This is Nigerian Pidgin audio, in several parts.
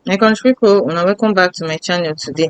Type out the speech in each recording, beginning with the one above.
my country people una welcome back to my channel today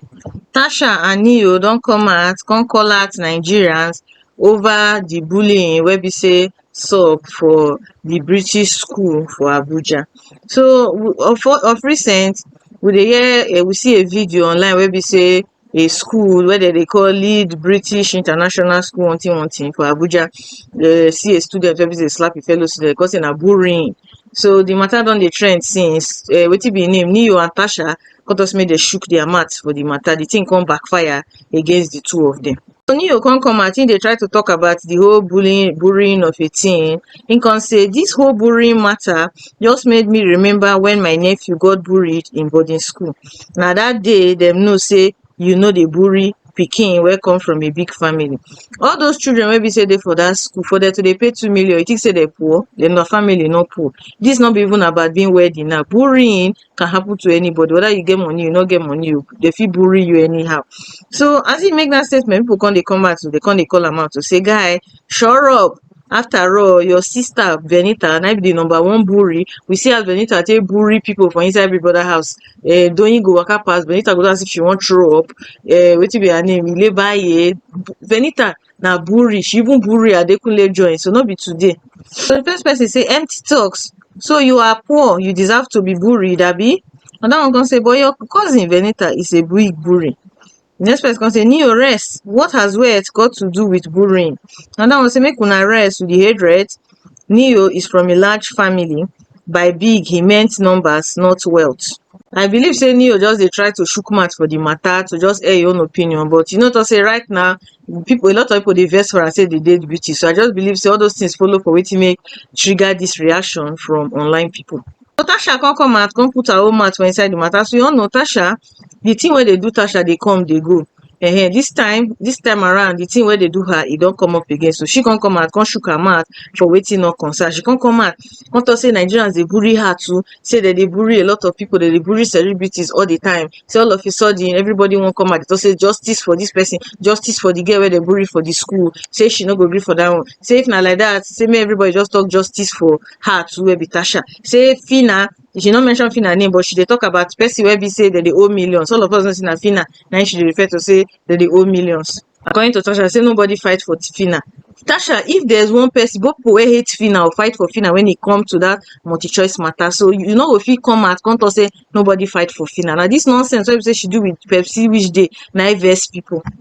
tasha and neo don come out come call out nigerians over the bullying wey be say sub for the british school for abuja so of of recent we dey hear eh, we see a video online wey be say a school wey dem dey call Lead British International School hunting hunting for Abuja. Dem see a student wey be sey dey slap a fellow student, dey come say na bullying. So de matter don dey trend since. um wetin be im name? Neo and Tasha come talk say make dem shook their mouth for de matter. De thing come backfire against de two of dem. Tonio come come out, he dey try to talk about the whole bullying, bullying of a teen. He can say, this whole bullying matter just made me remember when my nephew got bullied in boarding school. Now that day, them know say you know the bully pikin wey come from a big family. All those children wey be say dey for that school, for them to dey pay two million, you think say they poor? Then their family no poor. This not be even about being wealthy now. Bullying can happen to anybody whether you get money you no get money you they fit bully you anyhow so as he make that statement people come they come out to they come they call him out to say guy sure up after all your sister benita na be the number one bully we see as benita take bully people for inside big brother house eh doyin go waka pass benita go do as if she wan throw up eh wetin be her name ileba ye benita na buri she even buri adekunle join so no be today so the first person say empty talks so you are poor you deserve to be buried abi another one come say but your cousin venita is a big buri the next person come say neo rest what has wealth got to do with burying another one say make una rest with the hatred Neo is from a large family, by big he meant numbers not wealth. I believe say Neo just dey try to shook mouth for the matter to just air your own opinion but you know to say right now people a lot of people dey vex for am say they dey beauty so I just believe say all those things follow for wetin make trigger this reaction from online people. So Tasha come come out come put her own mouth for inside the matter so you all know Tasha the thing wey dey do tasha dey come dey go um this time this time around the thing wey dey do her e don come up again so she come come out come shook her mouth for wetin no concern her she come come out come talk say Nigerians dey bully her too say dem dey bully a lot of people dem dey bully celebrities all the time say all of a sudden everybody wan come out dey talk say justice for this person justice for the girl wey dem bully for the school say she no go gree for that one say if na like that say make everybody just talk justice for her too wey be Tasha say Phyna she no mention Fina name but she dey talk about person wey be say dem dey owe millions all of us know say na Fina na im she dey refer to say dem dey owe millions according to Tasha say nobody fight for Fina Tasha if there's one person both people wey hate Fina or fight for Fina when e come to that multi choice matter so you no go fit come out come talk say nobody fight for Fina na this nonsense wey be say she do with Pepsi which day na im vex people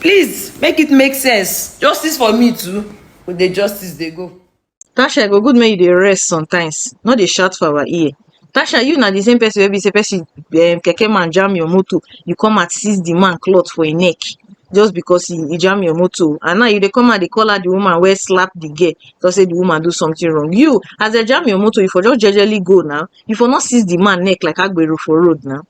please make it make sense justice for me too we dey justice dey go Tasha, e go good make you dey rest sometimes. No dey shout for our ear. Tasha, you na the same person wey be say person um, keke man jam your motor, you come and seize the man cloth for him neck just because he, he jam your motor. And now you dey come and dey call out the woman wey slap the girl because say the woman do something wrong. You, as they jam your motor, you for just jejely go now. You for not seize the man neck like Agbero for road now.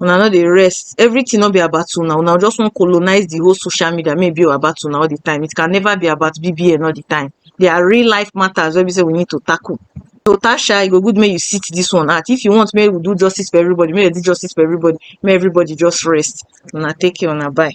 una no dey rest everything no be about una una just wan colonize the whole social media make e be about una all the time it can never be about bbn all the time there are real life matters wey be say we need to tackle so tasha e go good make you sit this one out if you want make we do justice for everybody make dem do justice for everybody make everybody just rest una take care una bye